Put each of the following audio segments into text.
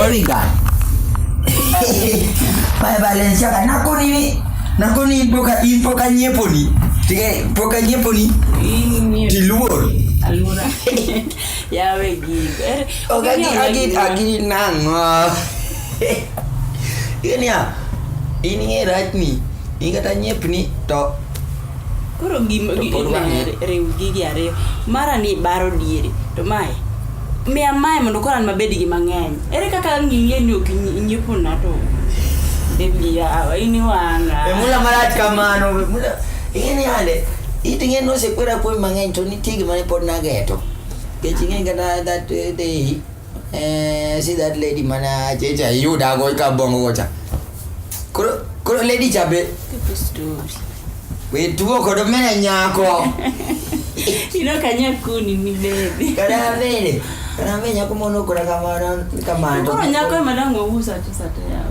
Erika. Pai Valencia ka nako nini? Nako ni poka i poka nyepo ni. Tige poka nyepo ni. Diluor. Alura. ya we gig. Er, Oga gi agi agi nango. Ini ya. Ini rach ni. Ini kata nyep ni to koro gima To pod wang'e. riw gigi ariyo mara ni baro diere to mae miya mae mondo koro an mabed gi mang'eny ere kaka ng'iye ni ok nyi- nyiepo na to bebi yawa in iwanga E mula marach kamano we mula ing'eni yande it ing'eni nosekwera puonj mang'eny to nitie gima ne pod nageto kech ing'eni kata that eh, day Eh, see that lady mana checha yu da go ka bongo gocha. Koro koro lady chabe. People story. We tuo kodo mena nyako. you know kanya kuni ni baby. Kada vile. Kada vile nyako mono kora kamana kamana. Koro nyako e madango usa tu sate ya.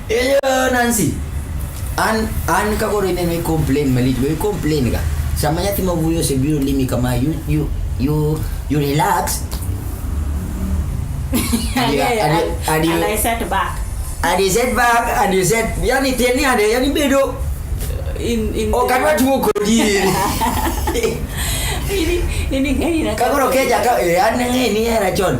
Eyo Nancy. An an ka koro ineno i complain malich we complain ga. Sama nyathi ma wuoyo osebiro limi kama you you you you relax. And you- and you- and you- And I sat back And you said back and you said yani tieni ade yani bedo in in o kadwa tuo kodi. ini ini gari na Ka koro keja ka eh, an ng'e ni era chon.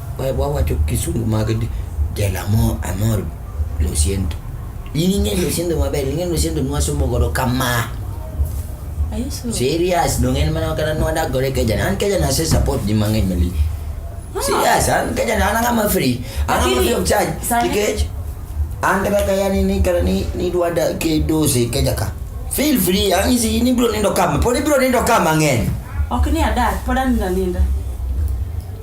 wawacho kisungu mag del amor, amor lo siento in ing'e lo siento maber ing'e lo siento nwasomo godo kama Are you sure? serious dong en mana kata nwadak godo e keja an keja nase support ji mang'eny mali serious an keja an ang'ama free an ang'ama Lakini, free of charge sani- nikech an kata kaya ni ni kata ni ni dwada ke dose keja ka feel free an isi in ibiro nindo kama pod ibiro nindo kama mang'eny Ok ni adak, pod anindo aninda.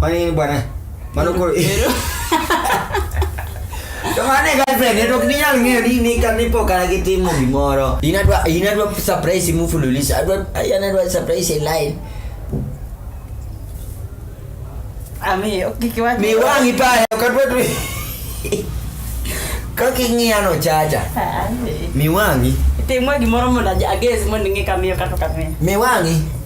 Mano in bwana. Mano koro. To mane girlfriend, to ok ninyal ng'eyo ni ni ka ni pok an gitimo gimoro. In adwa in adwa surprise mufululizo. Adwa an adwa surprise e line. Ami, ok kik iwach. Mi wang'i pale ok adwa tu. Kaka ing'iya no chacha. Ah, Mi wang'i. Timwa gimoro mondo ages mondo ing'e kamiyo kata kamiyo. Mi wang'i.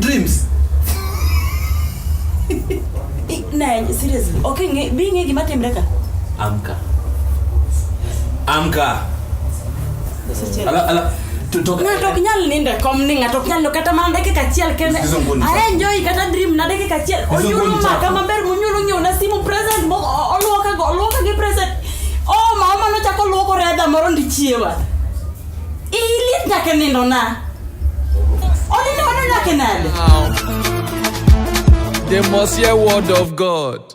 dreams na seriously okay nge bi nge gima timre ka amka amka ala ala to talk ng'ato ok nyal nindo e kom ni ng'ato ok nyal nindo kata mana dakika achiel kende Sikiza ngoni chako. aenjoy kata dream na dakika achiel Sikiza onyulo ngoni maka chako. maber munyulo nyiew na simu present mo- o- oluoka go oluoka gi present o mama nochako luoko redha moro ndichiewa Ilit nyaka nindo na. Onene wano nyaka nade. They must hear word of God.